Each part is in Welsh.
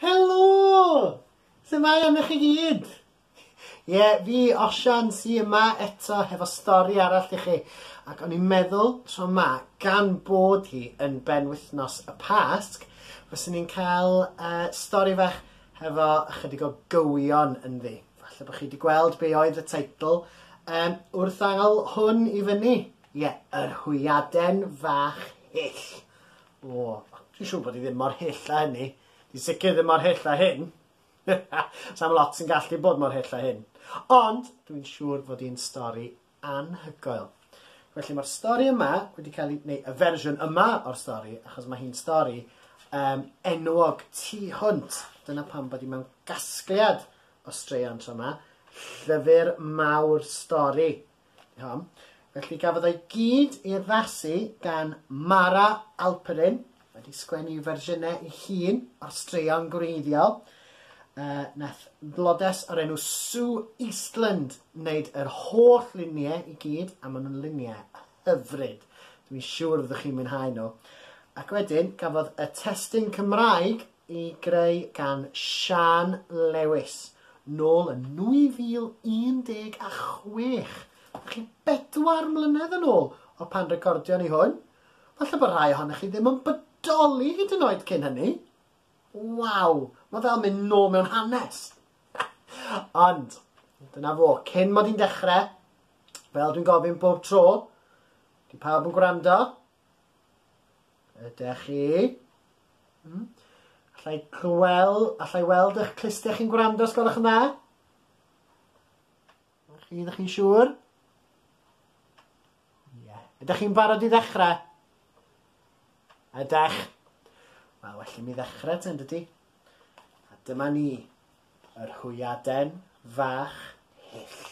Helo! Sut mae am i chi gyd? Ie, yeah, fi, Osian, sy yma eto hefo stori arall i chi. Ac o'n i'n meddwl tro yma, gan bod hi yn ben wythnos y Pasg, fyswn ni'n cael uh, stori fach hefo ychydig o gywion ynddi. Falle bod chi wedi gweld be oedd y teitl um, wrth angl hwn i fyny. Ie, yr hwyaden fach hyll. O, dwi'n siŵr bod i ddim mor hyll a hynny. Dwi'n sicr ddim mor hyll a hyn. Sam lot sy'n gallu bod mor hyll a hyn. Ond, dwi'n siŵr fod i'n stori anhygoel. Felly mae'r stori yma wedi cael ei... neu y fersiwn yma o'r stori, achos mae hi'n stori um, enwog tu hwnt. Dyna pam bod i mewn gasgliad o straeon tro yma. Llyfr mawr stori Iawn. Felly gafodd ei gyd i addasu gan Mara Alperin, wedi sgwennu fersiynau ei hun o'r straeon gwreiddiol. Uh, nath blodes o'r enw Sue Eastland wneud yr holl luniau i gyd, a maen nhw'n luniau hyfryd. Dwi'n siŵr ydych chi'n mwynhau nhw. Ac wedyn, gafodd y testyn Cymraeg ei greu gan Siân Lewis, nôl yn 2016, felly bedwar mlynedd yn ôl o pan recordion ni hwn. Falle bod rhai ohonoch chi ddim yn bodoli hyd yn oed cyn hynny. Waw, mae fel mynd nôl mewn hanes. Ond, dyna fo, cyn mod i'n dechrau, fel dwi'n gofyn bob tro, di pawb yn gwrando, Ydych chi? Hmm? Allai clywel, allai weld eich clustiau chi'n gwrando os gwelwch yn dda? Chi, ydych chi'n siŵr? Ie. Yeah. Ydych chi'n barod i ddechrau? Ydych. Wel, well i mi ddechrau ten, dydy. A dyma ni, yr hwyaden fach hyll.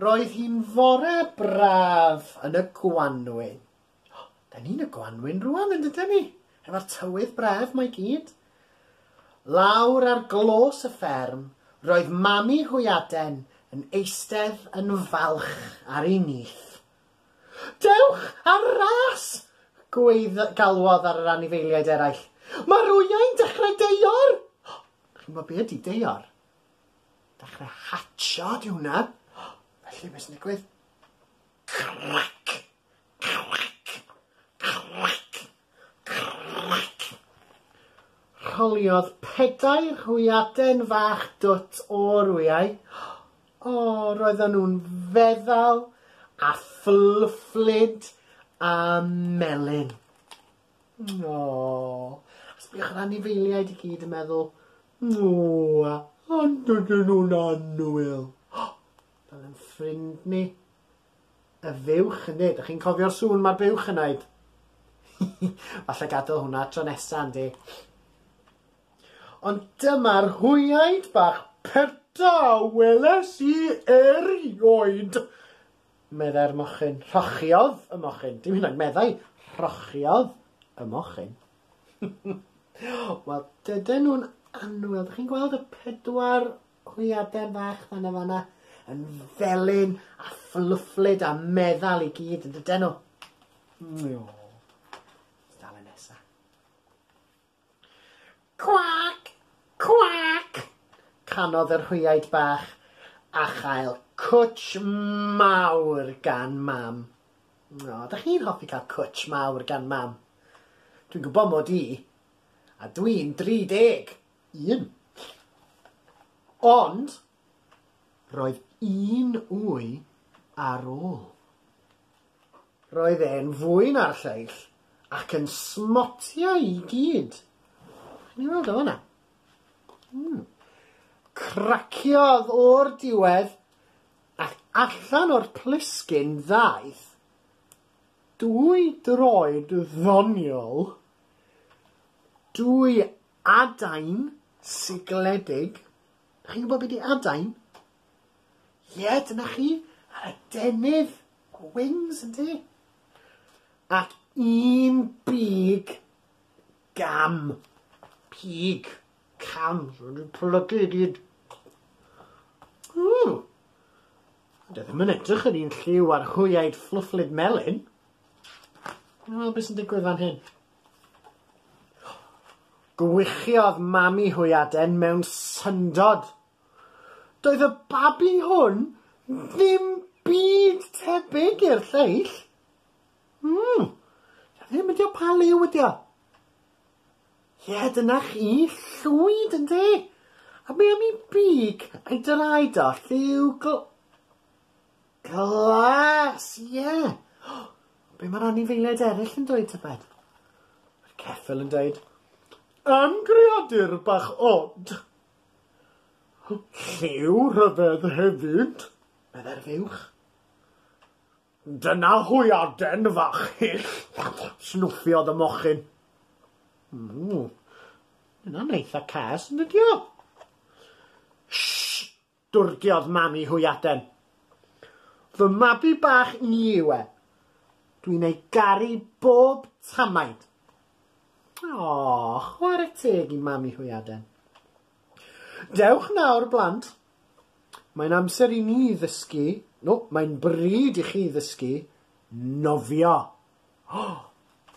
Roedd hi'n fore braf yn y gwanwyn. O, da ni'n y gwanwyn rwan yn dydyn ni? Efo'r tywydd braf mae gyd. Lawr ar glos y fferm, roedd mami hwyaden yn eistedd yn falch ar ei nyth. Dewch ar ras! Gweiddo, galwodd ar yr anifeiliaid eraill. Mae'r wyau'n dechrau deior! O, chi'n gwybod be ydy deior? Dechrau hatcho di hwnna. Felly beth sy'n digwydd? Crac! Crac! Crac! Crac! Rholiodd pedair hwyaden fach dwt o'r wyau. O, roedden nhw'n feddal a fflwfflyd a melyn. O! Sbïwch ar anifeiliaid i gyd yn meddwl, O! Ond dydyn nhw'n annwyl! Fel ein ffrind ni, y fuwch ynde? Dych chi'n cofio'r sŵn mae'r buwch yn wneud? Falle gadael hwnna tro nesaf ynde? Ond dyma'r hwyaid bach perta weles i erioed! Meddai'r mochyn. Rhochiodd y mochyn. Dim hyd yn oed meddai. Rhochiodd y mochyn. Wel, dydyn nhw'n annwyl. Dych chi'n gweld y pedwar hwyaden fach fan yma fanna yn felyn a fflwfflyd a meddal i gyd yn dydyn nhw. Mww. Dale nesa. Cwac! Cwac! canodd yr hwyaid bach, a chael cwtsh mawr gan Mam. O, ydych chi'n hoffi cael cwtsh mawr gan Mam? Dwi'n gwybod mod i, a dwi'n 31! Ond, roedd un wy ar ôl. Roedd e'n fwyn â'r lleill ac yn smotia i gyd. Ni weld o fanna. Hmm. Craciodd o'r diwedd ac allan o'r plisgyn ddaeth dwy droed ddoniol, dwy adain sigledig. Chi'n gwybod beth i adain? Ie, dyna chi, yr adenydd, y wings, yn ti? Ac un big gam. Pig. Cam. So, dwi'n plygu i gyd. Ww. Dwi ddim yn edrych yn un lliw ar hwyaid fflwfflyd melyn. Wel, beth sy'n digwydd fan hyn? Gwychiodd mami hwyaden mewn syndod Doedd y babi hwn ddim byd tebyg i'r lleill. Mm, ddim ydi o pa liw ydi o. Ie, dyna chi, llwyd yn de. A mi am i big ei draed o lliw gl... Glas, ie. Oh, be mae'r anifeiliaid eraill yn dweud tybed? Mae'r ceffil yn dweud, Am greadur bach od. Lliw rhyfedd hefyd, meddai'r fuwch. Dyna hwyaden fach hyll, snwffiodd y mochyn. Ww, yna'n eitha cas, yn ydio? Shh! Dwrdiodd mam i hwyaden. Fy mabi bach ni yw e. Dwi'n ei garu bob tamaid. O, chwarae teg i mam i hwyaden. Dewch nawr, blant. Mae'n amser i ni ddysgu, no, mae'n bryd i chi ddysgu nofio. O,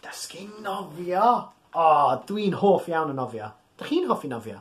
dysgu nofio! O, dwi'n hoff iawn o nofio. Dych chi'n hoffi nofio?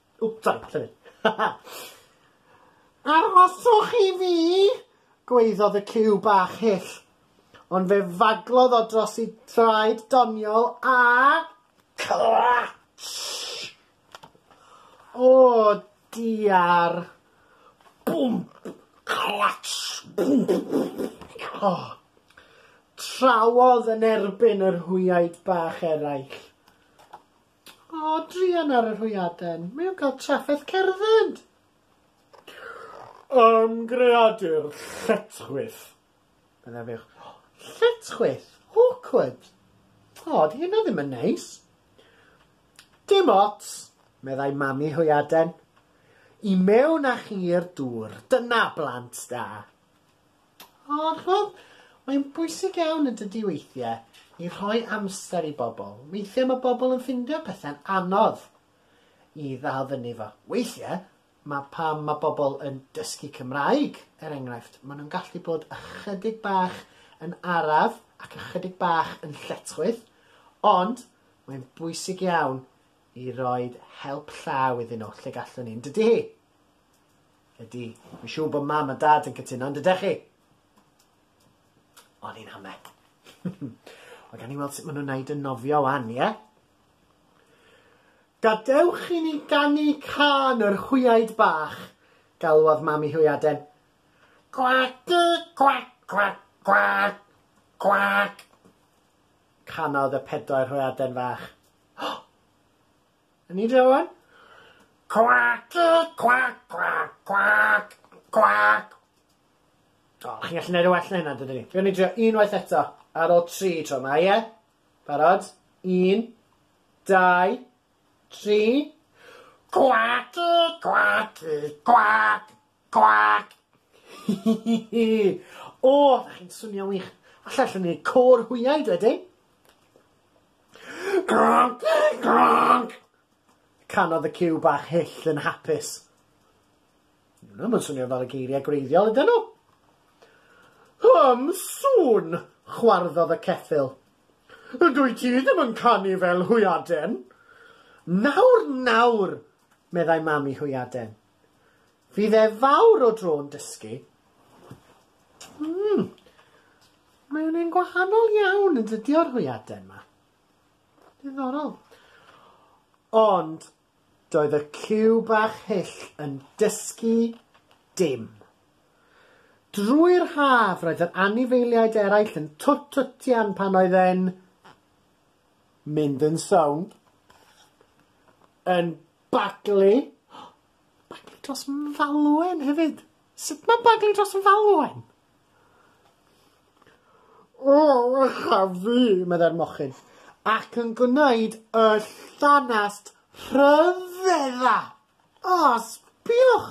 Wp, sori, llefydd. Arhoswch i fi! gwaeddodd y cyw bach hyll, ond fe faglodd o dros i draed doniol a... Clatsh! O, diar! Bwmp! Clatsh! O! Trawodd yn erbyn yr hwyaid bach eraill. O, druan ar yr hwyaden. Mae o'n cael trafferth cerdded! Ym greadur lletchwith. Bydda fe, lletchwith, awkward. O, di hynna ddim yn neis. Dim ots, meddai mami hwyaden. I mewn â chi i'r dŵr, dyna blant da. O, ch'mod, mae'n bwysig iawn yn dydi weithie i rhoi amser i bobl. Weithie mae bobl yn ffindio pethe'n anodd i ddal fyny fo. Weithie, mae pam mae bobl yn dysgu Cymraeg, er enghraifft, maen nhw'n gallu bod ychydig bach yn araf ac ychydig bach yn lletchwith, ond mae'n bwysig iawn i roed help llaw iddyn nhw lle gallwn ni, yn dydi? Ydy, fi'n siŵr bod mam a dad yn cytuno, ond ydych chi? O'n i'n hame. Ond gan i weld sut maen nhw'n neud yn nofio wan, ie? Yeah? Gadewch i ni ganu can yr hwyaid bach, galwodd mam i hwyaden. Gwacdi, gwac, gwac, gwac, gwac. Canodd y pedair hwyaden fach. Yn ni de wan? Cwac, cwac, cwac, cwac, cwac. O, chi'n gallu gwneud y well na hynna, dydyn ni. Dwi'n ni drio unwaith eto, ar ôl tri tro yma, ie? Barod? Un, dau, tri. Cwac, cwac, cwac, Gwaac! Hi hi hi hi! O, dach chi'n swnio'n wych. Alla allwn ni côr hwyau dwedyn? Gronc! Gronc! Canodd y cyw bach hyll yn hapus. Nhw'n yn swnio fel y geiriau gwreiddiol ydyn nhw. Hym sŵn, chwarddodd y ceffyl. Dwy ti ddim yn canu fel hwyaden. Nawr, nawr, meddai mam i hwyaden. Fydd e fawr o dro'n dysgu. Mm. Mae o'n un gwahanol iawn yn dydi o'r hwyaden yma. Diddorol. Ond, doedd y cyw bach hyll yn dysgu dim. Drwy'r haf roedd yr anifeiliaid eraill yn twt-twtian pan oedd e'n mynd yn sownd, yn Baglu? Baglu dros falwen hefyd? Sut mae baglu dros falwen? O, echa fi, meddai'r mochyn, ac yn gwneud y llanast rhyfedda. O, sbiwch!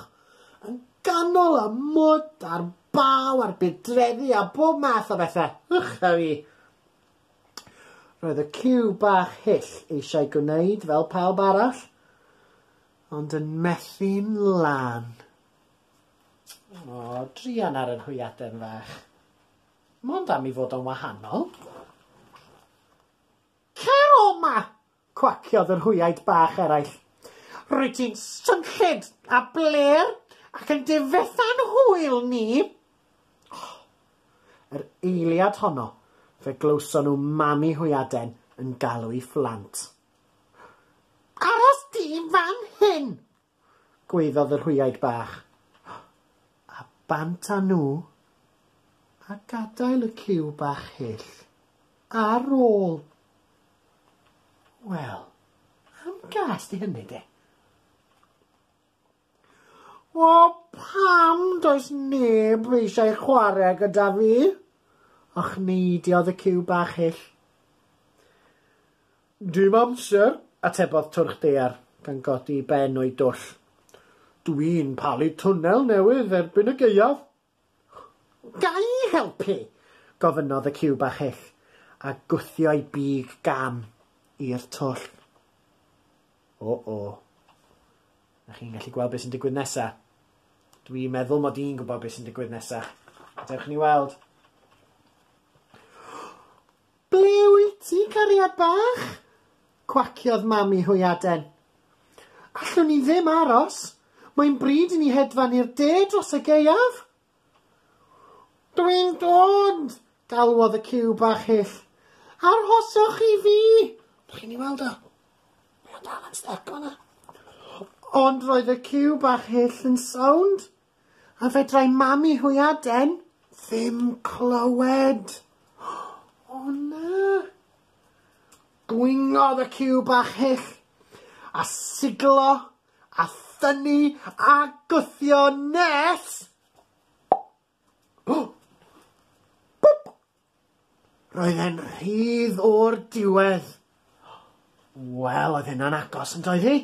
Yn ganol y mwd a'r baw a'r budreddi a bob math o bethau. Echa fi. Roedd y ciw bach hyll eisiau gwneud fel pawb arall, ond yn methu'n lan. O, drian ar yr hwyaden fach. Mond am i fod o'n wahanol. Cer o ma! Cwaciodd yr hwyaid bach eraill. Rwyt ti'n swnllyd a blêr ac yn difetha'n hwyl ni! Oh! Yr eiliad honno fe glywson nhw mami hwyaden yn galw i phlant. Aros di fan hyn! gwaeddodd y rhwyaid bach. A bant â nhw, a gadael y cyw bach hyll ar ôl. Wel, am gas di hynny de? O, pam does neb eisiau chwarae gyda fi? Ochneidio oedd y cyw bach hyll. Dim amser, atebodd Twrch Daear gan godi i ben o'i dwll. Dw i'n palu twnnel newydd erbyn y gaeaf. Ga i helpu? gofynnodd y ciw bach hyll, a gwthio'i big gam i'r twll. O-o. Ydych chi'n gallu gweld beth sy'n digwydd nesaf? Dw i'n meddwl mod i'n gwybod beth sy'n digwydd nesaf. Gadewch ni weld. Ble wyt ti, cariad bach? cwaciodd mam i hwyaden. Allwn ni ddim aros, mae'n bryd i ni hedfan i'r de dros y gaeaf. Dwi'n dod, galwodd y cyw bach hyll. Arhoswch i fi! Dych chi'n ei weld o? Mae o dal yn styc o'na. Ond roedd y cyw bach hyll yn sownd. A fedrai Mami Hwyaden ddim clywed. O na! Gwyngodd y ciw bach hyll, a siglo, a thynnu, a gwthio nes... Bwp! Roedd e'n rhydd o'r diwedd. Wel, oedd hynna'n agos yn doedd hi?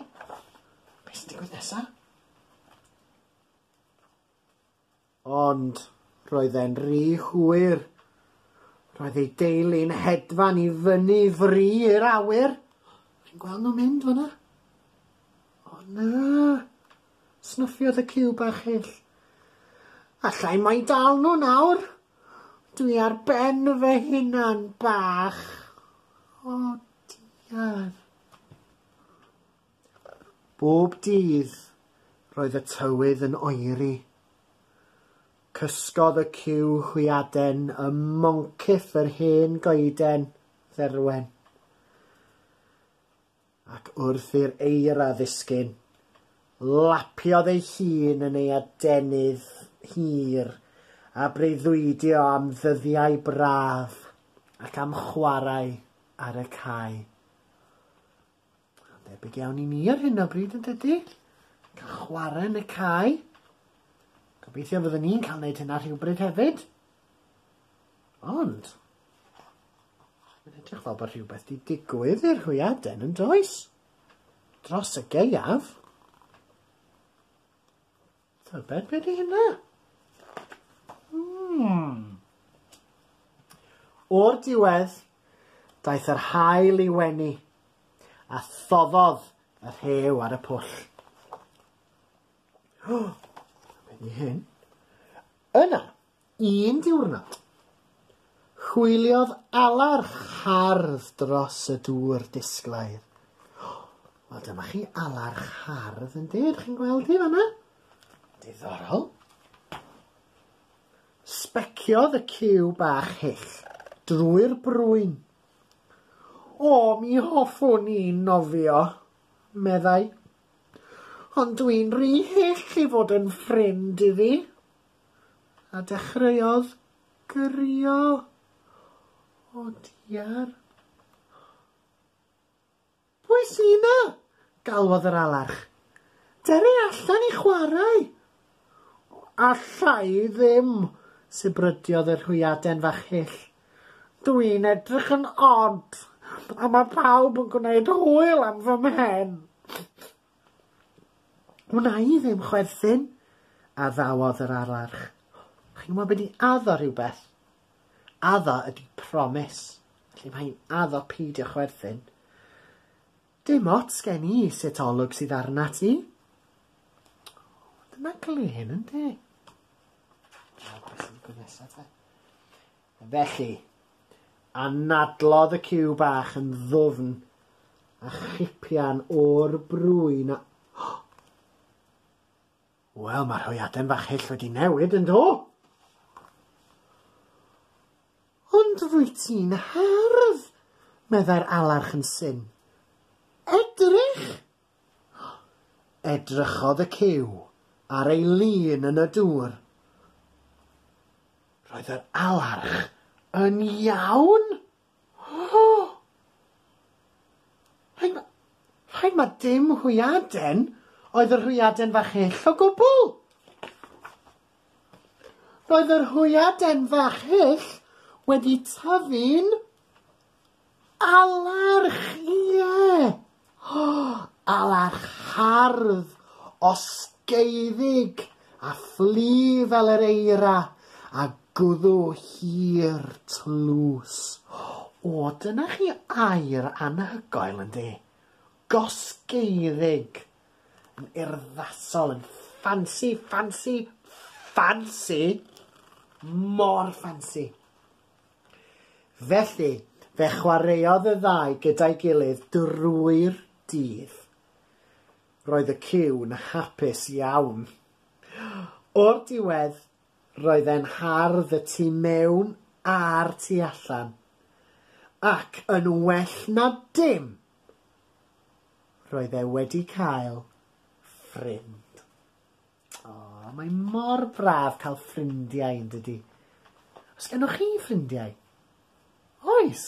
Beth sy'n digwydd nesa? Ond roedd e'n rhy hwyr. Roedd ei deulu'n hedfan i fyny fri i'r awyr. Fi'n gweld nhw'n mynd fyna. O na! Snuffiodd y ciw bach hyll. Allai mai dal nhw nawr? Dwi ar ben fy hunan bach. O, diar. Bob dydd, roedd y tywydd yn oeri. Cysgodd y cyw hwyaden ym moncyff yr hen goeden dderwen. Ac wrth i'r eira ddisgyn, lapiodd ei hun yn ei adenydd hir, a breuddwydio am ddyddiau braf ac am chwarae ar y cae. Debyg iawn i ni ar hyn o bryd yn dydy? Cael chwarae yn y cae. Gobeithio fyddwn ni'n cael gwneud hynna rhywbryd hefyd. Ond, mae'n edrych fel bod rhywbeth wedi digwydd i'r hwyaden yn does? Dros y geiaf. Tybed beth ydy hynna? Hmm. O'r diwedd, daeth yr hael i wenu, a thoffodd y rhew ar y pwll. Oh, wedi hyn. Yna, Un diwrnod, hwyliodd Alarch hardd dros y dŵr disglair. Wel, dyma chi Alarch hardd yn dyd, chi'n gweld hi fanna? Diddorol. Sbeciodd y cyw bach hyll drwy'r brwyn. O, mi hoffwn i nofio, meddai. Ond dwi'n rhy hyll i fod yn ffrind iddi. A dechreuodd grio o diar. Pwy sy 'na? galwodd yr alarch. Dere allan i chwarae! Alla i ddim, sibrydiodd yr hwyaden fach hyll. Dwi'n edrych yn od, a mae pawb yn gwneud hwyl am fy mhen. Wna i ddim chwerthin, addawodd yr ararch. Chi'n gwybod beth i addo rhywbeth? Addo ydy promis. Felly mae hi'n addo peidio chwerthin. Dim ots gen i sut olwg sydd arna ti. Dyna glen, ynddi? Dyna beth sy'n gwneud nesaf, Felly, anadlodd y ciw bach yn ddwfn a chipian o'r brwyn a... O! Wel, mae'r hwyaden fach hyll wedi newid, yn do? Ond rwy ti'n hardd, meddai'r alarch yn syn. Edrych! Edrychodd y cyw ar ei lun yn y dŵr. Roedd yr alarch yn iawn! O! Rhaid ma, rhaid ma dim hwyaden oedd yr hwyaden fach hyll o gwbl. Roedd yr hwyaden fach hyll wedi tyfu'n Alarch, ie! O, alarch hardd, osgeiddig, a phlu fel yr eira, a gwddw hir, tlws. O, dyna chi air anhygoel, yndi? Gosgeiddig. Yn urddasol, yn ffansi, ffansi, ffansi! Mor ffansi. Felly, fe chwaraeodd y ddau gyda'i gilydd drwy'r dydd. Roedd y ciw'n hapus iawn. O'r diwedd, roedd e'n hardd y tu mewn a'r tu allan. Ac yn well na dim, roedd e wedi cael ffrind. Oh, mae mor braf cael ffrindiau yn dydy. Os gennych chi ffrindiau? Oes!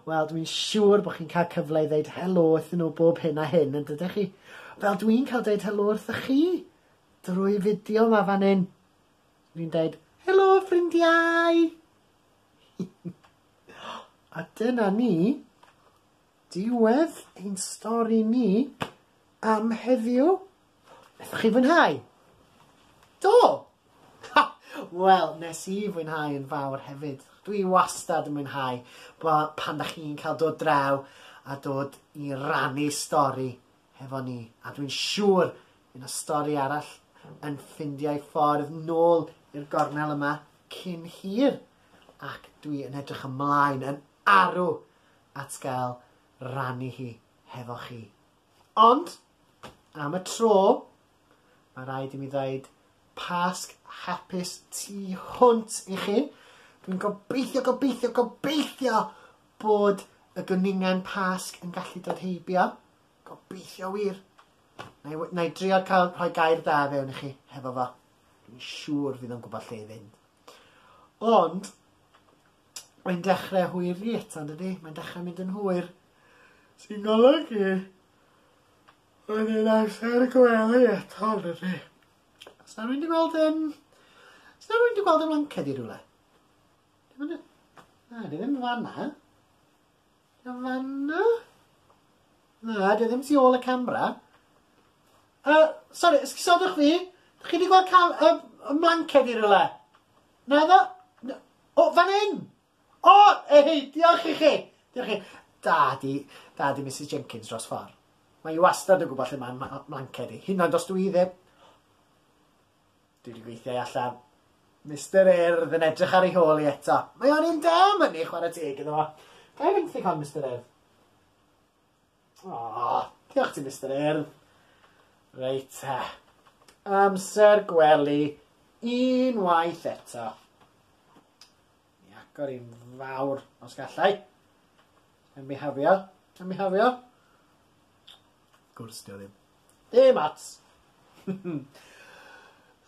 Wel, dwi'n siŵr bod chi'n cael cyfle i ddeud helo wrth nhw bob hyn a hyn, yn dydych chi? Fel dwi'n cael deud helo wrth chi drwy fideo ma fan hyn. Dwi'n deud, helo ffrindiau! a dyna ni. Diwedd ein stori ni am heddiw. Naethoch chi fwynhau? Do! Ha! Wel, nes i fwynhau yn fawr hefyd. Dwi wastad yn mwynhau pan da chi'n cael dod draw a dod i rannu stori hefo ni. A dwi'n siŵr fydd na stori arall yn ffindiau ffordd nôl i'r gornel yma cyn hir. Ac dwi yn edrych ymlaen yn arw at gael rannu hi hefo chi. Ond, am y tro, mae rhaid i mi ddeud Pasg hapus tu hwnt i chi. Dwi'n gobeithio, gobeithio, gobeithio bod y gwningen Pasg yn gallu dod heibio. Gobeithio wir. Na i, na i drio cael rhoi gair da fewn i chi hefo fo. Dwi'n siŵr fydd o'n gwybod lle i fynd. Ond, Mae'n dechrau hwyr ni eto, yn dydy? Mae'n dechrau mynd yn hwyr. Sy'n golygu oedd yn amser y gwely eto, yn dydy? Os na rwy'n di gweld yn... Os na rwy'n di gweld yn wanced i rhywle? Dim yn... Na, di ddim fanna. Di ddim fanna? Na, di ddim tu ôl y camera. Uh, sorry, esgusodwch fi. Chi wedi gweld cam... Uh, y mlanced i rhywle? Na, na, na, o, fan hyn! O, ei, diolch i chi! Diolch i chi. Da di, da di Mrs Jenkins dros ffordd. Mae i wastad yn gwybod lle mae mlanced i, hyn ond os dwi i ddim. Dwi wedi gweithio i allan. Mr Erdd yn edrych ar ei hôl i eto. Mae o'n un da, myni, chwarae teg iddo fo. Gael i benthyg hon, Mr Erdd? Aww, diolch ti Mister Urdd. Reit te. Amser gwely unwaith eto. Mi agor i'n fawr os gallai. Yn mi hafio, yn mi hafio. Gwrs, dio ddim. Dim ots.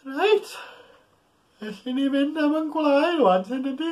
Reit. Felly ni fynd am yn gwlau rwan, sy'n ydy?